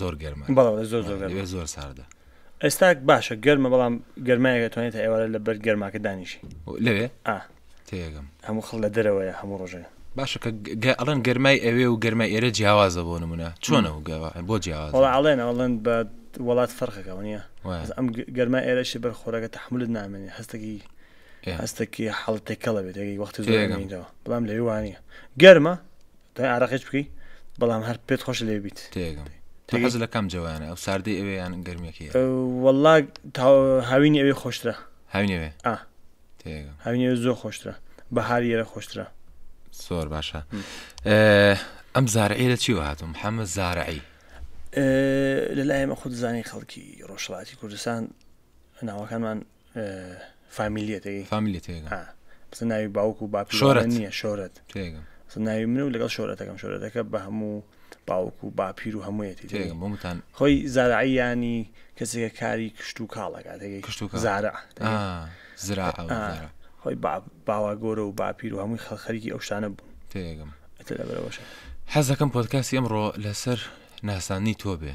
زۆر گەرمە بەڵێ زۆر زۆر گەرمە. ئەوێ زۆر ساردە ئێستا باشە گەرمە بەڵام گەرمایەکە توانێت تا ئێوارە لە بەر گەرماکە دانیشی لەوێ ئا تێگەم هەموو خەڵ لە دەرەوەیە هەموو ڕۆژێ باشە کە گە- ئەڵێن گەرمای ئەوێ و گەرمای ئێرە جیاوازە بۆ نمونە چۆنە و گەوا بۆ وەڵا جیاوازە ئەڵێن ئەڵێن بە وڵات فەرقەکە نییە وایە. بەس ئەم گ- گەرمای ئێرەشی بەر خۆراکە تەحملت نامێنێ هەستەکی ئێ. هەستەکی حاڵەت تێکەڵە بێت تێگەی وەختی زۆر تێگەم. ئەمێنیتەوە بەڵام لەوێ وانە گەرمە دای عراقیش بکەی بەڵام هەر پێت خۆش لێ بیت تێگەم تۆ تێگەی؟ حەز لە کام جەوانە ئەو ساردەی ئەوێ یان گەرمیەکەی والله تا- هاوینی ئەوێ خۆشترە هاوینەوێ ئا تێگەم هاوینی ئەوێ زۆر خۆشترە بەهاری ئێرە خۆشترە زۆر باشە ئەم زارعی لە چیوە هاتم حەمە زارعی ئێ، لەلایەمە خۆ دەزانین خەڵکی ڕۆژهەڵاتی کوردستان ناوەکانمان فامیلیەتەکەی فامیلی تێگە ها بس ناوی باوک و باپی شۆرەت. وانە نییە شۆرەت تێگەم بس ناوی منە و لەگەڵ شۆرەتەکەم شۆرەتەکە بە هەموو باوک و باپیر و هەموویەتی تێگەم تێگەی. بۆمتان خۆی زارعیانی کەسێکە کاری کشت و کاڵەکە تێگەی کشت و کاڵ. زارع تێگەی. آه، زرا آه، ئەوزارا خۆی با- باوا گۆرە و باپیر و هەمووی خەڵ خەریکی ئەو شتانە بوون تێگەم ئەتە لەبەرەوەشە حەزەکەم پۆدکاستی ئەمڕۆ لەسەر ناساندنی تۆ بێ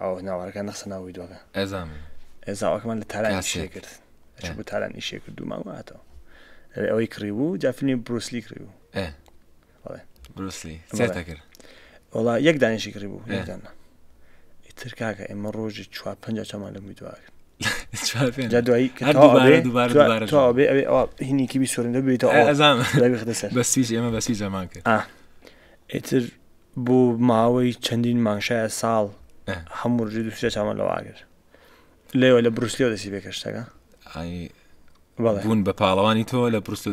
ئەو ناوارەکە نەخسە ناو ویدۆکە زاواکەمان لە تاران شێ کرد چ بۆ تاران ئیشێ کرد و ماواتەوە ئەوێ ئەوەی کڕی بوو جافنی بروسلی کڕی بوو بروسلی کرد وڵا یەک دانیشی کڕی بوو یەکدانە ئیتر کاکە ئێمە ڕۆژی چوار پ چامان لە میدواکرد هینیکی سورندە بێتەوە بەسویش ئێمە بەسی جەمان کرد ئیتر بۆ ماوەی چەندین مانگ شایە ساڵ هەموو ڕژی دووسرە چامان لەوە ئاگر لێوە لە بروسلێو دەسی بێکەشتەکە بوون بە پاڵەوانی تۆ لە پرست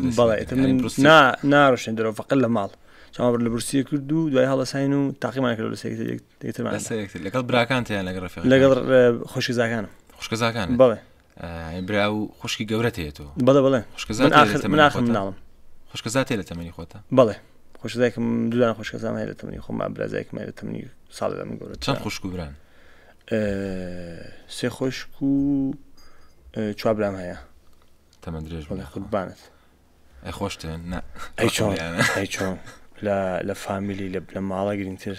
ناڕشن درۆ فقل لە ماڵ چاوەڕ لە برسی کرد و دوای هەڵەساین و تاقیمان کرد لەگەڵ براکان لەگەڵ خۆشکزاکانم خۆشکزاکان بڵێ برا و خوشکی گەورە هەیە تۆ بەڵێ بڵێ خوشکە زاتێ لە تەمەنی خۆتە بڵێ خوشدایکم دوان خوشکەزان هەیە لە تەمەنی خۆم برازایکم لە تەمەنی ساڵ لە من گەورە چەند خوشک و بران سێ خۆشک و چوابرام هەیە تەمە درێژ بڵێ خودبانت ئەی خۆشتێن ئەی چۆن لە فامیلی لە بنە ماڵە گرنگتر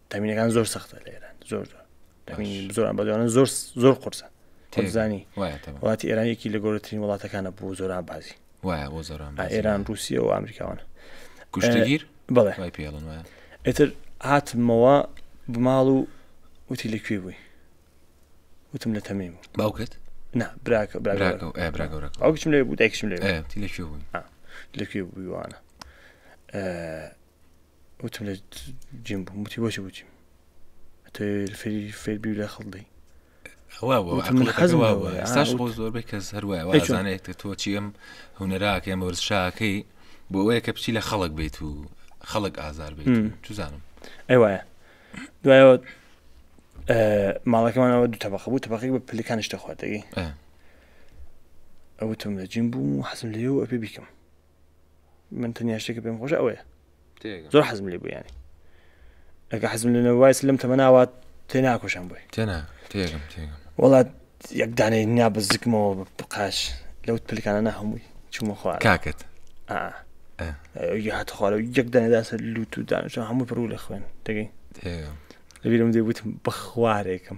تامینەکان زۆر سەختە لە ئێران زۆر زۆر زۆر ئەمبازیانە زۆر زۆر قرسە تێزانی وڵاتی ئێرانێکی لە گەورەترین وڵاتەکانە بۆ زۆران بازی وایە بۆ زۆران ئێران رووسیە و ئەمریکاوانە کوشتگیر بڵێ پێڵن وایە ئێتر هاتمەوە بماڵ و وتی لە کوێ بووی وتم لە تەمیم باوکت نا براکە براگەورەکەچم لێ بوو دایکشم لێ لە کوێ بووی لە کوێ بوویوانە وتم لە جیم بووم وتی بۆچی بچیم فێری فێر بی لە خەڵدەی ئێستاش بۆ زۆربەی کەس هەروایزانێت تۆ چیم هوەراکەم وەرزشاکەی بۆ ئەوەیە کە بچی لە خەڵک بیت و خەڵک ئازار بیت توزانم ئەی وایە دوایەوە ماڵەکەمانەوە دوو تەبق بوو تەبقی بە پلەکانیش دەخواتەگەی ئەوتم لە جیم بووم و حەزم لێ و ئەپێ بیکەم من تەنیا شتێکە پێم خۆش ئەوەیە زۆر حەزم لێ بوو ینی ئەگە حەزم لە نەوایس لەم تەمەناوات تێ ناکۆشان بووی تێنا تێگەم تێگەم وڵات یەک دانێ نیا بە زکمەوە بقاش لەو پلکانە نە هەمووی چوومە خوار کاکت هات خوارە یەک دانێداسە لووت و دانیشە هەموو پڕوو لە خوێن دەگەین لەبیرم دەبوتم بەخوارێکم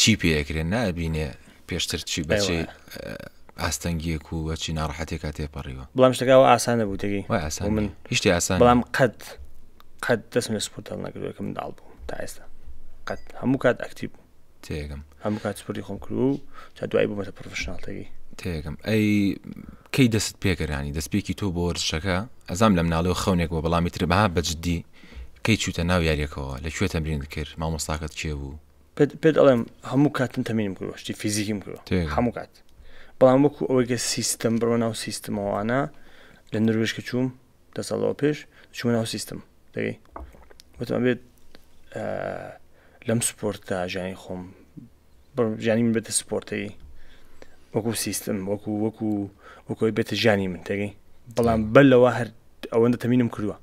چی پێ ئەکرێ نابینێ پێشتر چی بە چی ئاستەنگیەک و بەچی ناڕحەتێکا تێپەڕیوە بەڵام شتەکەەوە ئاسانە بوو دەگەی وای ئاسان من هیشتی ئاسان بەڵام قەت قەت دەستم لە سپورت هەڵ نەکردوەکە منداڵ بوو تا ئێستا قەت هەموو کات ئەکتیب تێگەم هەموو کات سپوری خۆم کرد و تا دوای بوومەتە پرۆفشنناڵتەگەی تێگەم ئەی کەی دەست پێگەرانی دەستپێکی تۆ بۆ وەرزشەکە ئەزام لە مناڵەوە خەونێک بۆ بەڵامی تر بەها بەجددی کەی چوتە ناو یاریەکەەوە لە کوێ تەمرین کرد مامۆستاکەت کێ بوو پێت پێت ئەڵێم هەموو کات من تەمینم کردوە شتی فیزیکیم کردوە تێ. هەموو کات بەڵام وەکو ئەوەی کە سیستم بڕۆ ناو سیستمەوانە لە نروێژ کە چووم دە ساڵەوە پێش چووە ناو سیستم دەگەی وتم ئەبێت ئا، لەم سپۆرتدا ژیانی خۆم بڕم ژیانی من بێتە سپۆرتەی وەکو سیستم وەکو وەکو وەکۆی بێتە ژیانی من دەگەی بەڵام بەر لەوە هەر ئەوەندە تەمینم کردوە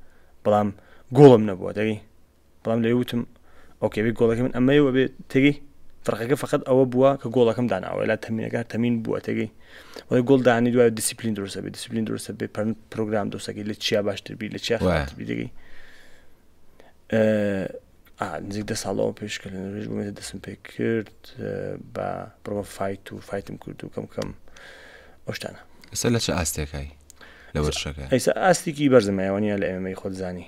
بەڵام گۆڵم نەبووە دەگەی بەڵام لێ وتم ئۆکێ بێ گۆڵەکە من ئەمەی وەبێ تێگەی فەرقەکە فقط ئەوە بووە کە گۆڵەکەم داناوە لا تەمینەکە تەمین بووە تێگەی وەی گۆڵ دانی دوای دیسیپلین درسە بێ دیسیپلین درسە بێ پرن پرۆگرام دۆسەکەی لە چیا باشتر بی لە چیا خاتبی دەگەی نزیک دە ساڵەوە پێشکە لە نوێژ بوومێتە دەستم پێ کرد بە بڕۆ فیت و فیتم کرد و کەم کەم ئەوشتانە ئێستا لە چه ئاستێکای لە وەرشەکە ئێستا ئاستێکی بەرزمایوانە لە ئێمەی خۆزانانی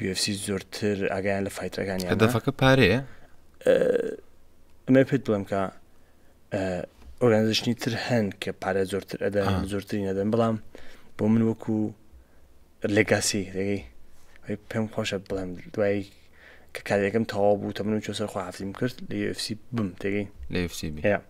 UFC زۆرتر ئاگایان لە فایتەکانی هەدەفەکە پارەیە ئەمە پێت بڵێم کە ئۆرگانزشنی تر هەن کە پارە زۆرتر ئەدا زۆرتری نەدەن بەڵام بۆ من وەکو لێگاسی لەگەی پێم خۆشە بڵێم دوایی کە کارەکەم تەواو بوو تەمن و چۆسەر خواحفتیم کرد لە UFC بم تێگەی لە UFC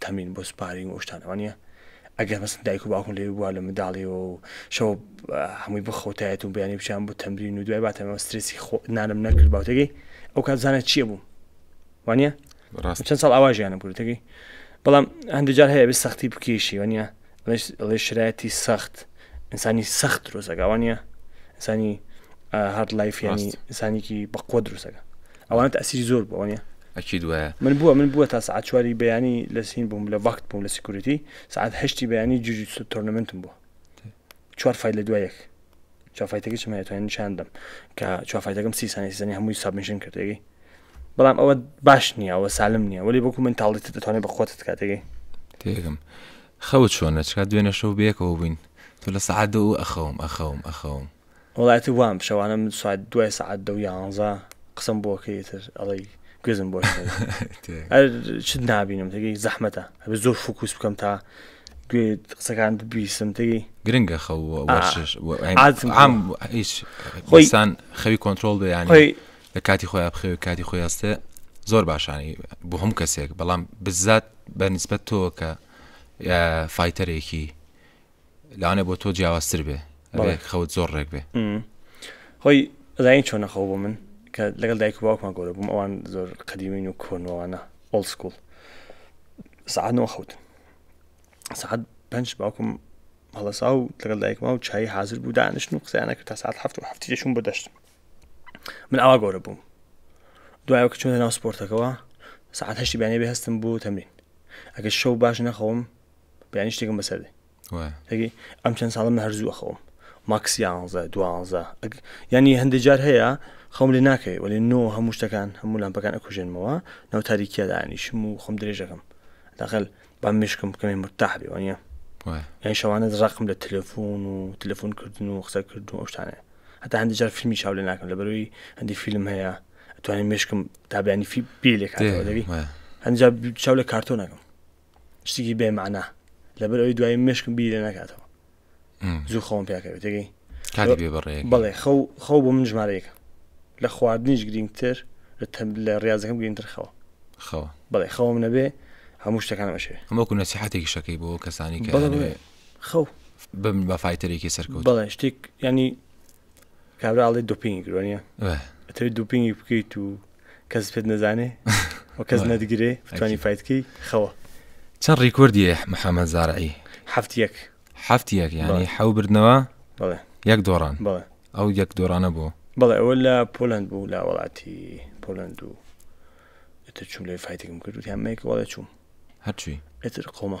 تەمین بۆ سپارین و ئەوشتانە وا نیە ئەگەر مەسن دایک و باوکم لەوێ بووە لە منداڵیەوە و شەو هەمووی بخەوتایەت و بەیانی بچیان بۆ تەمرین و دوای باتەمەوە سترسی خۆ نانم نەکرد باوتەکەی ئەو کات زانە چییە بووم وانە چەند ساڵ ئاواژیانم کردەکەی بەڵام هەندێک جار هەیە بێ سەختی بکێشی وە نیە ئەڵێ شرایەتی سەخت ئینسانی سەخت درۆزەکە ئەوە نیە ئینسانی هەر لایفیانی ئینسانێکی بەقوە درۆزەکە ئەوان تاسیری زۆر بۆ نیە ئەکی دوە من بووە من بووە تا سعات چواری بەیانی لە سین بووم لە وەخت بووم لە سیکورتی سعات هەشتی بەیانی جوجی تۆرنمنتم بووە چوار فیل لە دوایەک چوافایتەکەی چمە توانین نیشان دەم کە چوافایتەکەم سی سانی سیزانی هەمووی سابمیشن کردێگەی بەڵام ئەوە باش نییە ئەوە سالم نییە ولی بۆکو من تاڵێت دەتوانێت بە خۆت کاتێگەی تێگەم خەوت چۆنە چکا دوێنە شەو بێکەوە بووین تو لە سعات دە و ئەخەوم ئەخەوم ئەخەوم وڵاتی وام شەوانە من سوات دوای سعات دە و یانزە قسم بۆکەیتر ئەڵی گوێزم بۆ چ نابینم تێگەی زەحمەتە هەبێ زۆر فکوس بکەم تا گوێ قسەکانت بیسم تێی گرنگە خەو و وەرزش و ئەم- عادم عام هیچ خۆی- ئینسان خەوی کۆنترۆڵ بێ یانی خۆی- لە کاتی خۆی بخەوێ کاتی خۆی هەستێ زۆر باشانی بۆ هەموو کەسێک بەڵام بزات بە نسبەت تۆ کە یا، فایتەرێکی لەوانێ بۆ تۆ جیاوازتر بێ بەڵێ. ئەبێ خەوت زۆر ڕێک بێ خۆی زین چۆن نەخەو بۆ من کە لەگەڵ دایک و باوکمان گەورە بووم ئەوان زۆر قەدیمین و کۆنەوانە ئۆڵ سکوڵ سعات نۆ خەوتن سعات پنج باوکم هەڵسا و لەگەڵ دایکما و چای حاضر بوو دانیشتن و قسەیانە کرد تا ساعت هەفت و هەفتی دەشون بەدەشت من ئاوا گەورە بووم دوایەوە کە چۆنە ناو سپۆرتەکەەوە سعات هەشتی بیانێ بێ هەستم بوو تەمرین ئەگەر شەو باش نەخەوم بیانی شتێکم بەسەردێ تەگی ئەم چەند ساڵم من هەرزووە خەوم ماکسی یانزە دوانزە ینی هەندێک جار هەیە خەم لێ ناکەی وەێ نۆ هەموو شتەکان هەموو لامپەکان ئەکوژێنمەوە ناو تاریکیە دانیشم و خەم درێژەکەم دەخل با مشکم بکەێ مرتاح بێ وانە یان شەوانە ڕقم لە تەلەفۆن و تەلەفۆن کردن و قسەکردن و ئەوشتانە هەتا هەندی جار فیلمی چاو لە ناکەم لە بەروی هەندی فیلم هەیە توانین مشکم تابیانی فی پێ لێ هەنجا چاو لە کارتۆ نەکەم شتێکی بێ معنا لەبەر ئەوی دوای مشکم بیرە نکاتەوە زوو خەوم پیاکەێتگەی کاری بێ بەڕێ بڵێ خەو خەو بۆ من ژمارەیەکە لە خواردنیش گرنگتر لە ڕاضەکەم گرنگتر خەوە خەوە بڵێ خەوم نەبێ هەموو شتەکان بەشێ ئەمەکو نەسیحاتێکی شەکەی بۆ کەسانی کە خەو بم بە فیتەرێکی سەرکەوت بڵێ شتێک ینی کابراڵی دوپینگ گرۆنیە ئەتەوێت دوپینگی بکەیت و کەس پێت نەزانێ و کەس نەتگرێ بتانی فایتکەی خەوە چەند ڕیکوردی محەممەد زارعی هەفت یەک هەفت یەک یانی حەو بردنەوە یەک دۆڕان ئەو یەک دۆرانە بۆ بەڵێ ئەوە لە پۆلند بوو لە وڵاتی پۆلند و ئتر چوم لێ فایتێکم کرد هەمەیەک وڵێ چوم هەرچی ئتر قۆمە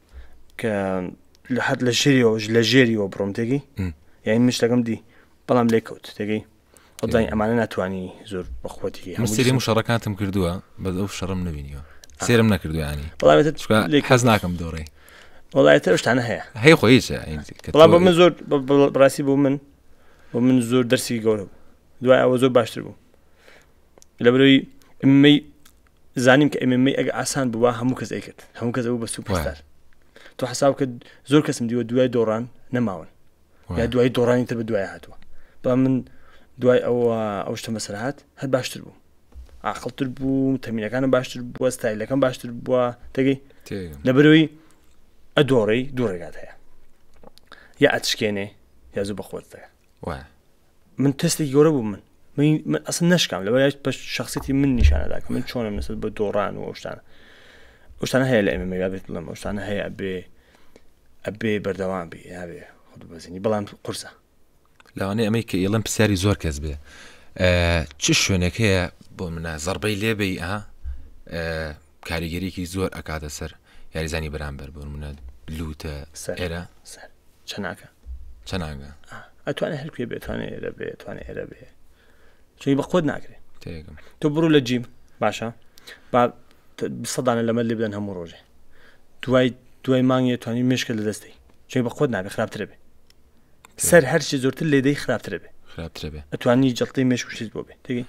کە لە حەت لە ژێریەوەش لە ژێریەوە بڕۆم تێگەی یعنی من شتەکەم دی بەڵام لێ کەوت تێگەی خدای ئەمانە ناتوانانی زۆر بەخوەتی مستری شەڕەکانتم کردووە بە ئەو شەڕم نبینیەوە سێرم نەکردویانی حەز ناکەم دۆڕێ وڵایەتە شتانە هەیە هەیە خۆی بەڵام بۆ من زۆر بڕاستی بۆ من بۆ من زۆر دەرسی گەورە بوو دوای ئەوە زۆر باشتر بوو لە برەوەی ئەمەی زانیم کە ئەمە ئەگ ئاسان بووە هەموو کەس ئەیکرد هەموو کەس بوو بە سوپستار تۆ حساو کە زۆر کەسم دیوە دوای دۆڕان نەماون یا دوای دۆڕانی تر بە دوای هاتووە با من دوای ئەوە ئەو شتە مەسرات هەر باشتر بوو عقلتر بوو تەمینەکانم باشتر بووە ستایلەکەم باشتر بووە تێگەی لەبەرەوەی ئەدۆڕی دوو ڕێگات هەیە یا ئەتشکێنێ یا زوو بەخۆت دەکە وایە من تەستی گەورە بوو من من ئەسن نشکام لەوە یاش پشت شخصێتی من نیشانەدا کە من چۆنم نسبت بە دۆڕان و ئەوشتان ئەوشتان هەیە لە ئێمە مێرا بێت بڵم ئەوشتان هەیە بێ ئەبێ بەردەوام بێ نابێ خود بەزینی بەڵام قورسە لەوانەیە ئەمەی کە ئیڵم پرسیاری زۆر کەس بێ چ شوێنێک هەیە بۆ منە زەربەی لێبی ئا کاریگەریەکی زۆر ئەکاتە سەر یاریزانی بەرامبەر بۆنمونە لوتە ئێرە سەر چەناکە چەناگە ئەتوانێت هەرکوێ بێتوانێت ئێرە بێتوانێت ئێرە بێ چی بە خۆت ناکرێت تۆ بڕو لە جیم باشە با سەدانە لەمە لێ بدەن هەموو ڕۆژێ دوای دوای مانگێ توانی مشکە لە دەستی چی بە خۆت نابێ خراپترە بێ سەر هەرچی زۆرتر لێدەی خراپترە بێ خراپترە بێ ئەتوانی جڵتی مشکشت بۆ بێ تێگەی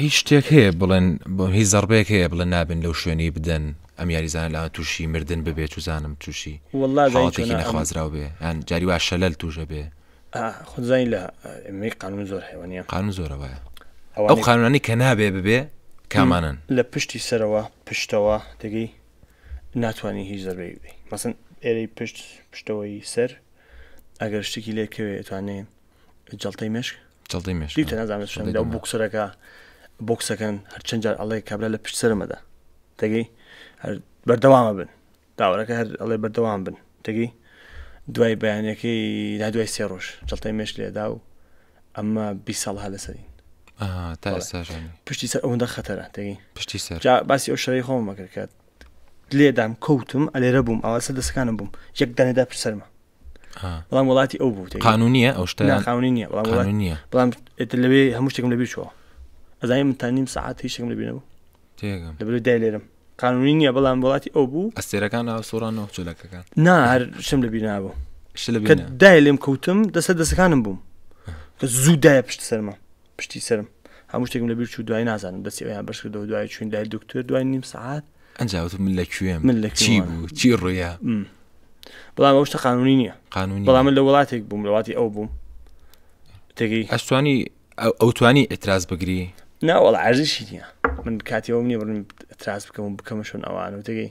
هیچ شتێک هەیە بڵێن بۆ هیچ زەڕبەیەک هەیە بڵێن نابێن لەو شوێنەی بدەن ئەم یاریزانە لاوان تووشی مردن ببێت و زانم تووشی واللە زانی حاڵەتێکی چۆنە ئەم نەخوازراو بێ یان جاری وا شەلەل تووشە بێ ئا، خۆت زانی لە ئەمەی قانون زۆر حیوانە قانون زۆرە وایە ئەو ئەوانەی قانونانی کە نابێ ببێ کامانەن لە پشتی سەرەوە پشتەوە تێگەی ناتوانانی هیچ زەربەی بدەی مەسن ئێرەی پشت پشتەوەی سەر ئەگەر شتێکی لێکەوێ توانێ جڵتەی مشک جڵتەی مشک دیتە نازانم شەنگدا و بوکسەرەکە بۆکسەکەن هەرچەند جار ئەڵێ کابرا لە پشت سەرمەدا دەگەی بەردەوامە بن داوەەکە هەر ئەڵێ بەردەوام بن دەگەی دوای بەیانەکەی لا دوای سێ ڕۆژ جڵتەی مێش لێدا و ئەمە بی ساڵ هە لەسەرین پشتی سەر ئەوەندە خەتەرە دەگەی پشتی سەر باسی ئەو شەی خۆمەکرد کە لێدام کەوتم ئەلێرە بووم ئەوە سەر دەستەکانم بووم یەک دانێدا پر سەرمە بەڵام وڵاتی ئەو بوو قانونیە ئەو شتەخاونی نیە بەڵام نیە بەڵام لەوێ هەموو شتێکم لەبیر چوە ئەزای من تا نیم ساعت هیچ شتێکم لەبیرەوە لەبێ دای لێرم قانونی نییە بەڵام وڵاتی ئەو بوو ئەستێرەکان ئاسۆران و چلەکەکان نا هەر شم لە بینا بوو دای لێم کەوتم دەسە دەستەکانم بووم کە زوو دایە پشت سەرمە پشتی سەرم هەموو شتێکم لەبیر چوو دوای نازانم دەستی ئەویان بەش کردەوە دوای چوین لای دکتۆر دوای نیم سعات ئەنجاوت من لە کوێم من لە چی بوو چی ڕوویا بەڵام ئەو شتە قانونی نییە قانونی بەڵام من لە وڵاتێک بووم لەواتی ئەو بووم تێگەی ئەستوانی ئەو توانی ئەتراز بگری ناوەڵ عرزشی نیە من کاتیەوە منی بڕم تراس بکەم و بکەمە شوون ئەوان و تێگەی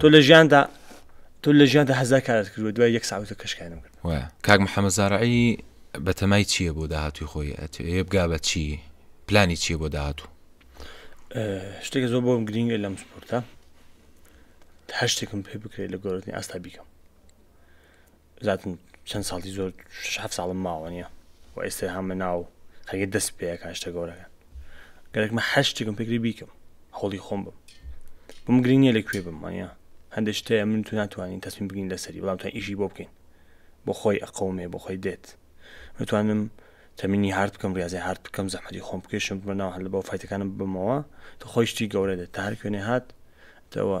تۆ لە ژیاندا تۆ لە ژیاندا هەزار کارت کردوە دوای یەک ساوتە کەشکانم کرد کاک محەممە زارعی بەتەمای چییە بۆ داهاتوی خۆی ئەتێ بگا بە چی پلانی چییە بۆ داهاتوو شتێک زۆر بۆم گرنگە لەم سپۆرتە هەر شتێکم پێ بکرێت لە گۆرتنی ئاستا بیکەم زاتم چەند ساڵی زۆر شش هەفت ساڵم ماوە نیە و ئێستا هامە ناو خەگە دەست پێ کاشتە گەورەکە گەرەکمە هەر شتێکم پێکری بیکەم هەوڵی خۆم بم بم گرنگ نیە لە کوێ بم وانە هەندێک شتەیە من تو ناتوانین تەسمیم بگین لەسەری بەڵام تا ئیشی بۆ بکەین بۆ خۆی ئەقەومێ بۆ خۆی دێت متوانم تەمینی هارد بکەم ریاضی هارد بکەم زەحمەتی خۆم بکێشم بمە ناو هەل بۆ فیتەکانم بمەوە تو خۆی شتی گەورە دێت تا هەر کوێنێ هات تەوە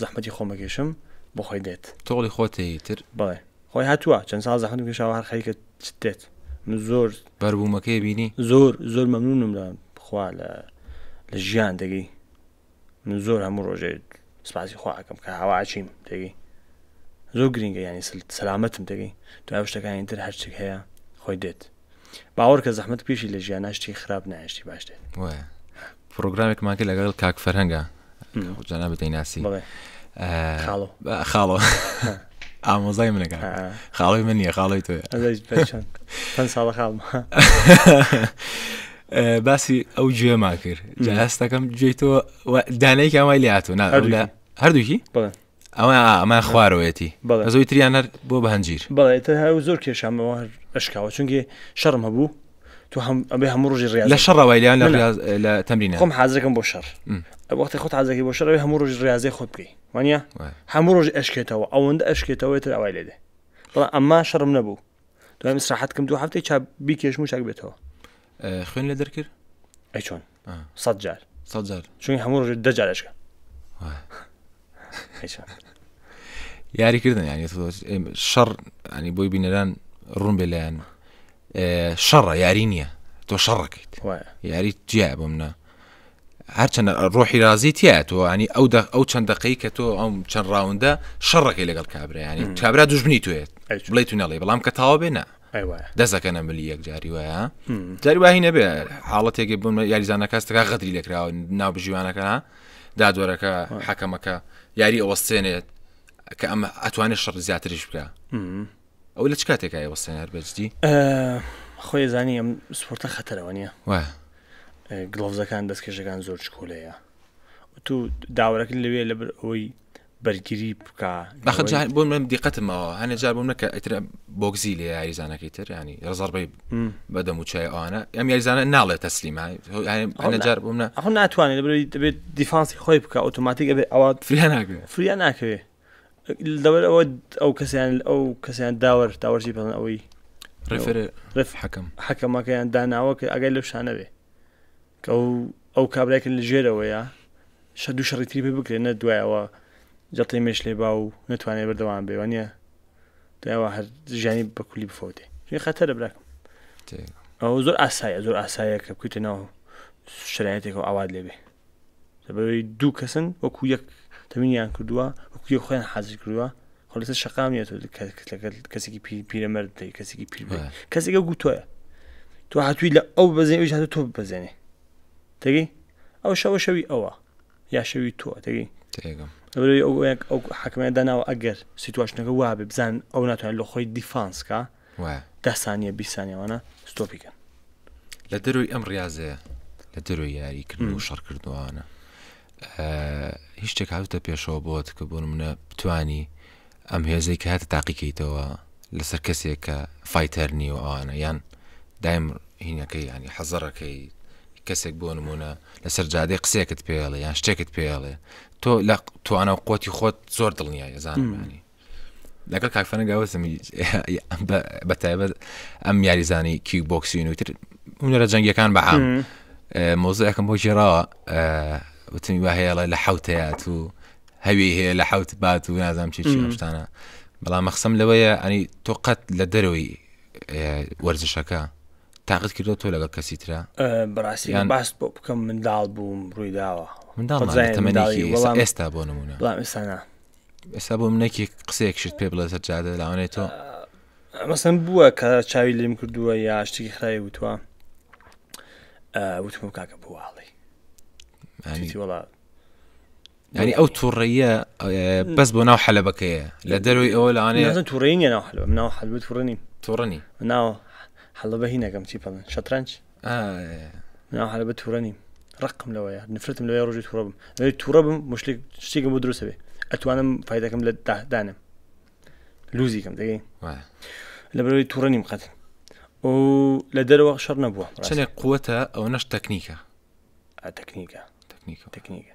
زەحمەتی خۆم ئەکێشم بۆ خۆی دێت تۆڵی خۆتە ئیتر بەڵێ خۆی هاتووە چەند ساڵ زەحمەتم کێشاوە هەر خەریکە چت دێت من زۆر بەربوومەکەی بینی زۆر زۆر مەمنونم لە خوا لە لە ژیان دەگەی من زۆر هەموو ڕۆژێ سپاسی خواکەم کە هاواچیم دەگەی زۆر گرنگە ینی سل- سەلامەتم دەگەی دوای شتەکانی تر هەرچێک هەیە خۆی دێت باوەڕکە زەحمەت پێشی لە ژیانە شتی خراپ نایشتی باش دێت وایە پرۆگرامێکمان کرد لەگەڵ کاک فەرهەنگە جانا بدەیناسی بڵێ خاڵۆ بە- خاڵۆ ئامۆزای منەکە خاڵی من نیە خاڵی تۆ پێنج ساڵە خاڵم باسی ئەو گوێمان کرد جا هەستەکەم گوێی تۆ و- دانەیەکی ئەمای لاتۆ نا هەردووکی؟ لە هەردووکی بڵێ ئەوە ئەمە خوارەوەیەتی زۆی تریان هەر بۆ بە هەنجیر بەڵێت هەر زۆر کێشامەوە هەر ئەشکاوە چونگێ شەڕم هەبوو تو هەم ئەبێ هەموو ڕژی ڕێ لە شەڕەوەی لیان لە تەمرین خۆم حازەکەم بۆ شەڕ وەختی خۆت حازەکەی بۆ شەڕەوەی هەموو ڕژی ڕاازێ خۆت بکەی وانە هەموو ڕژ ئەشکێتەوە ئەوەندە ئەشکێتەوەی تر ئەوای لێدێ بەڵام ئەمما شەڕم نەبوو دوای مسراحەتکەم دوو هەفتەی چا بیکێشم و چاک بێتەوە خوێن لە دەرکرد ئەی چۆن سەد جار سەد جار چونی هەموو ڕۆژ دە جار ئەشکە وای. هیچ یاری کردن یعنی تۆ ئێمە شەڕ ینی بۆی بینەران ڕوون بێ لایەن ئێ، شەڕە یاری نییە تۆ شەڕەکەیت وایە یاری جیا بۆ منە هەرچەند ڕۆحی رازی تیا تۆ ینی ئەو دە ئەو چەند دقەی کە تۆ ئەم چەند ڕاوندە شەڕەکەی لەگەڵ کابرایانی کابرا دوژمنی توێت ئەچ. بڵێ تو نەڵێ بەڵام کە تاوا بێنە دەسەکەنە ملی یەکجاری وایە جاری واهی نەبێ حاڵەتێکی بوون یاریزانە کەستەکە غەدری لێکراوە ناو بژیوانەکە دادوەرەکە حەکەمەکە یاری ئەوەستێنێت کە ئەمە ئەتوانێت شەڕ زیاتریش بکە ئەو لە چ کاتێکە ئەوەستێن هەر بەجدی خۆی زانی ئەم سپۆرتە خەتەرەوە نیە گڵۆزەکان دەستکێشەکان زۆر چکۆلەیە تو داوەرەکە لەوێ لەبەر ئەوەی بەرگری بکە بەخە بۆ من دیقەتمەوە هەنێ جار بۆم نەکە ئەتر بۆگزی لە یاریزانەکەی تر ینی ڕزەڕبەی بەدەم و چای ئەوانە ئەم یاریزانە ناڵێت تەسلیمە جار بۆم ئەخ ناتوانێت دەبێت دەبێت دیفانسی خۆی بکە ئۆتۆماتیک ئەبێت ئەوە فریا ناکرێت فریا ناکەوێت لەوەر ئەوە ئەو کەسیان ئەو کەسیان داوەر داوەرجی بەڵن ئەوەی ڕفرێ ڕف حەکەم حەکەمەکەیان داناوە کە ئەگەر لەو شانەوێ کە و ئەو کابرای کە لە ژێرەوەیە شە دوو شەڕی تری پێ بکرێ نە دوای ئەوە جەڵتەی مێش لێ با و نەتوانێ بەردەوام بێ وانە دوایەوە هەر ژیانی بە کولی بفەوتێ ژێ خەتەرە براکەم ئەو زۆر ئاسایە زۆر ئاسایە کە بکوتە ناو شرایەتێک و ئاوات لێبێ لەبەرئەوەی دوو کەسن وەکو یەک تەمینیان کردووە وەکو یەک خۆیان حازر کردووە خۆ لەسەر شەقام نیە تۆ کەسێکی پیرەمەرد دەی کەسێکی پیر کەسێکە گوتۆە تۆ هاتووی لە ئەو بەزێ ئەوش هاتو تۆ بەزێنێ تێگەی ئەو شەوە شەوی ئەوە یا شەوی تۆ تێگەی ئەو حکمە داناوە ئەگەر سیتواشنەکە وابێ بزان ئەو ناتوانێت لە خۆی دیفانسکە دە سانیە بیست سانیە وانە ستۆپی کەن لە دەروی ئەم ڕاضەیە لە دەروی یاری کردن و شەڕکردوانە هیچ شتێک هاوتە پێشەوە بۆت کە بۆن منە بتانی ئەم هێزەی کە هاتە تاقیکەیتەوە لەسەر کەسێک کە فیتەر نیو ئەوانە یان دایم هینەکەی ینی حەزەڕەکەی کەسێک بۆ نمونە لەسەر جادەی قسێکت پێڵێ یان شتێکت پێڵێ تۆ لە توانە و قوتی خۆت زۆر دڵنیای زانانی لەگەڵ کاکفەنە گاوەزمی بە تایبەت ئەم یاریزانی کیک بۆکسین وتر هونەرە جەنگەکان بە عام مۆزەکەم بۆ ژێراوە وتمی وە هەیەڵە لە حوتەیات و هەوی هەیە لە حوت بات و نازام چی شتانە بەڵام مەخسم لەوەیە ئەنی تۆ قەت لە دەرەوەی وەرزشەکە تاقت کردو تۆ لەگەڵ کەسی تررا بەڕاستی باس بۆ بکەم منداڵ بووم ڕوویداوە منداڵ ئێستا بۆ نمونە ئێستا ئێستا بۆ منێکی قسەیەک شت پێ بڵێ سەر جادە لاوانێت تۆ مەسم بووە کە چاوی لێم کردووە یا شتێکی خراوی وتوە وتم کاکە بواڵی وڵا ینی ئەو توڕەیە بەس بۆ ناو حەلبەکەیە لە دەروی ئەوە لەوانێ توڕێنی ناو حلب ناو حلب توڕنی توڕنی ناو حەڵبە هینەکەم چی پڵن شەترەنج مناڵ هەرە بە تووڕە نیم ڕقم لەوەیە نفرتم لەوەی ڕۆژی تووڕە بم لەوەی تووڕە بم مشتێک شتێکم بۆ دروستە بێ ئەتوانم فیدەکەم لە دادانم لوزیکەم دەگەی لە بەرەوەی تووڕە نیم قەت و لە دەرەوە شەڕ نەبووە چنێک قوتە ئەو نەش تەکنیکە تەکنیکە تەکنیکە تەکنیکە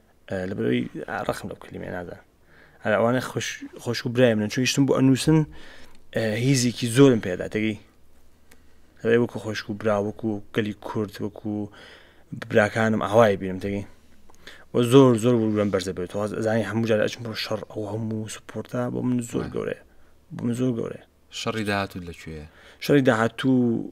لەبەرەوەی ڕخم لەو کلیمێ نادا هەر ئەوانە خۆش و برای منن چونیشتم بۆ ئەنووسن هیزێکی زۆرم پێدا تێگەی هەێ وەکو خۆشک و برا وەکو گەلی کورد وەکو براکانم ئاوای بینم تێگەی و زۆر زۆر وگوێن بەرزە بێت زانانی هەموو جار ئەچم بۆ شەڕ ئەو هەموو سپۆرتا بۆ من زۆر گەورەیە بۆ من زۆر گەورەیە شەڕی داهاتوو لەکوێ شەڕی داهاتوو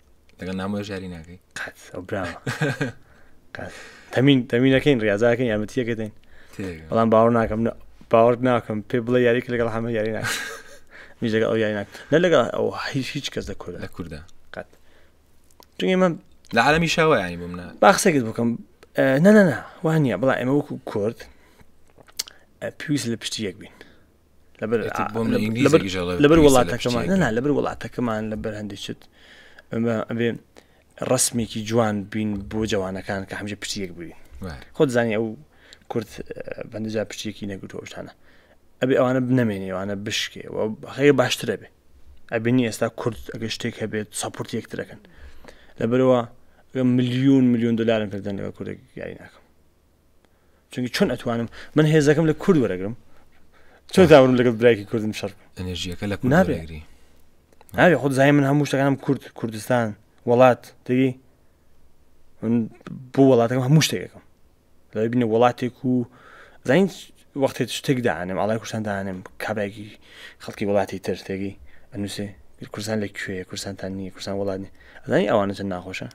لەگەڵ نامۆش یاری ناکەی قەت ئەو براوە قەت. تەمین تەمینەکەین ڕاضاکەین یامەتیەکەین تێگەم. بەڵام باوەڕ ناکەم نە- باوەڕ ناکەم پێ بڵێ یاریک لەگەڵ حەمە یاری ناکەم میش لەگەڵ ئەو یاری ناکەم نە لەگەڵ ئەو هیچ هیچ کەس لە کوردە لە کووردا قەت چونکە ئێمە لە عالمی شاوە ینی بۆ منە با قسەکت بکەم نەنەنا وانە بڵا ئێمە وەکو کورد ئە، پێویست لە پشتی یەک بین لەبەر وڵاتەکەمان نەنا لەبەر وڵاتەکەمان لە بەرهەندی چت ئەمە ئەبێ ڕسمێکی جوان بین بۆ جوانەکان کە هەمجە پچیەک بووین خۆت زانانی ئەو کورت بەندجا پچێکی نەگوتۆشتانە ئەبێ ئەوانە بنەمێنێ ئەوانە بشکێ هەیە باشترە بێ ئەبینی ئێستا کورد ئەگە شتێک هەبێت سەپورت یەکترەکەن لەبەرەوە ملیون ملیون دلارم کردن لەگە کوردێک یاری ناکەم چونکی چۆن ئەتوانم من هێزەکەم لە کورد وەرەگرم چۆن داورم لەگەڵ برایکی کوردم شەر ئەنێژیەکە لە نابێگری ناوێ خود زای من هەموو شتەکانم کورد کوردستان وڵات دەگەی من بۆ وڵاتەکەم هەموو شتێکەکەم لە بینە وڵاتێک و زین وەختێ شتێک دانم ئاڵای کوردستان دانم کابراێکی خەڵکی وڵاتی تر تێگەی ئەنووسێ کوردستان لە کوێ کوردستانتان نییە کوردستان وڵات نیە ئەزانی ئەوانە چەند ناخۆشە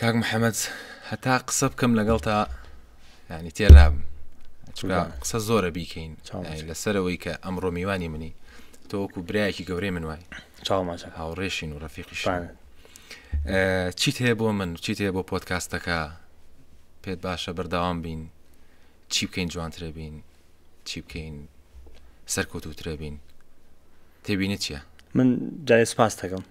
کاک محەمەد هەتا قسە بکەم لەگەڵ تا ینی تێرابم قسە زۆرە بیکەین لەسەرەوەی کە ئەمڕۆ میوانی منی تۆوەکو برایەکی گەورەی من وای چاوماچە هاوڕێشین و ڕەفیقی شان چیت هەیە بۆ من چیت هەیە بۆ پۆتکاستەکە پێت باشە بەرداوام بین چی بکەین جوانترە بین چی بکەین سەرکەوتوترە بین تێبینی چییە من جای سپاس دەکەم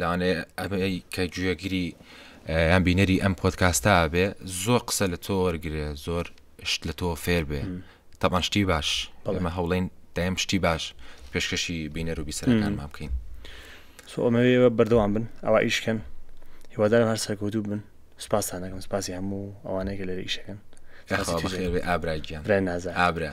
لەوانەیە ئەمەی کە گوێگری یان بینەری ئەم پۆدکاستە بێ زۆر قسە لە تۆ وەرگێ زۆر شت لە تۆ فێر بێ تەمان شتی باش ئەمە هەوڵین دایم شتی باش پێشکەشی بینەر و بیسەرەکانمان بکەین سۆمەوێ بەردەوام بن ئەوە ئیشکەن هیوادارم هەر سەرکەوتوو بن سپاسانەکەم سپاسی هەموو ئەوانەیە لەرە ئیشەکەن ئابراگیان نازە ئابرا